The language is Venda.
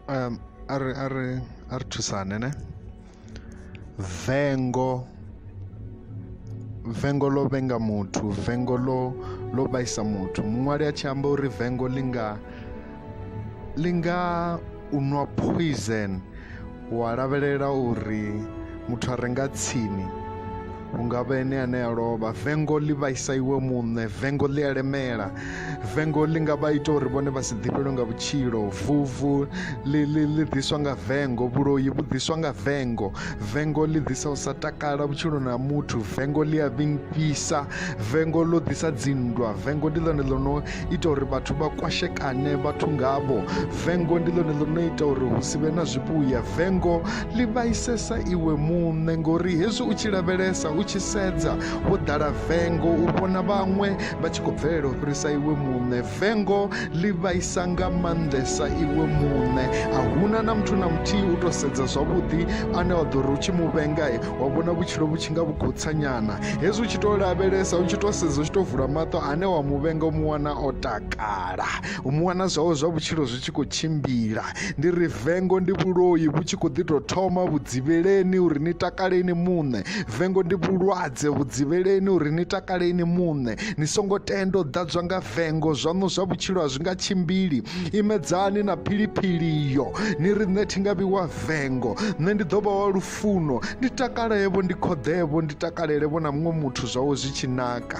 um, a ri a ri a ri thusane ne vengo vengo ḽo vhenga muthu vengo ḽo ḽo vhaisa muthu muṅwali a tshi amba uri vengo ḽi nga ḽi nga u nwa poison Wa lavhelela uri muthu a re nga tsini hungavha ene ane a lovha vengo ḽi vhaisa iwe muṋe vengo ḽi a lemela vengo ḽi nga vha ita uri vhone vha si ḓifhelwe nga vhutshilo vuvu ḽi ḽi ḽi ḓiswa nga vengo vhuloi vhu ḓiswa nga vengo vengo ḽi ḓisa u sa takala vhutshiloni ha muthu vengo ḽi a vhingfhisa vengo ḽo ḓisa dzinndwa vengo ndi ḽone ḽo no ita uri vhathu vha kwashekane vhathu ngavho vengo ndi ḽone ḽo no ita uri hu si vhe na zwivhuya vengo ḽi vhaisesa iwe muṋe ngori hezwi u tshi lavhelesa u tshi sedza wo ḓala vengo u vhona vhaṅwe vha tshi khou bvelela u fhirisa iwe muṋe vengo ḽi vhaisa nga maanḓesa iwe muṋe a huna na muthu na muthihi u tou sedza zwavhuḓi ane wa ḓo ri u tshi mu vhenga wa vhona vhutshilo vhu tshi nga vhu khou tsanyana hezwi u tshi tou lavhelesa u tshi tou sedza u tshi tou vula maṱo ane wa muvhenga u mu wana o takala u mu wana zwawo zwa vhutshilo zwi tshi khou tshimbila ndi ri vengo ndi vhuloi vhu tshi khou ḓi tou thoma vhudzivheleni uri ni takale ini muṋe vengo ndi vhulwadze vhudzivheleni uri ni takale ini muṋe ni songo tenda u ḓadzwa nga vengo zwaṋu zwa vhutshilo a zwi nga tshimbili imedzani na philiphili iyo ni ri nṋe thi nga vhi wa vengo nṋe ndi ḓo vha wa lufu pfuno ndi takalevho ndi khoḓevho ndi takalelevho na muṅwe muthu zwawe zwi tshi naka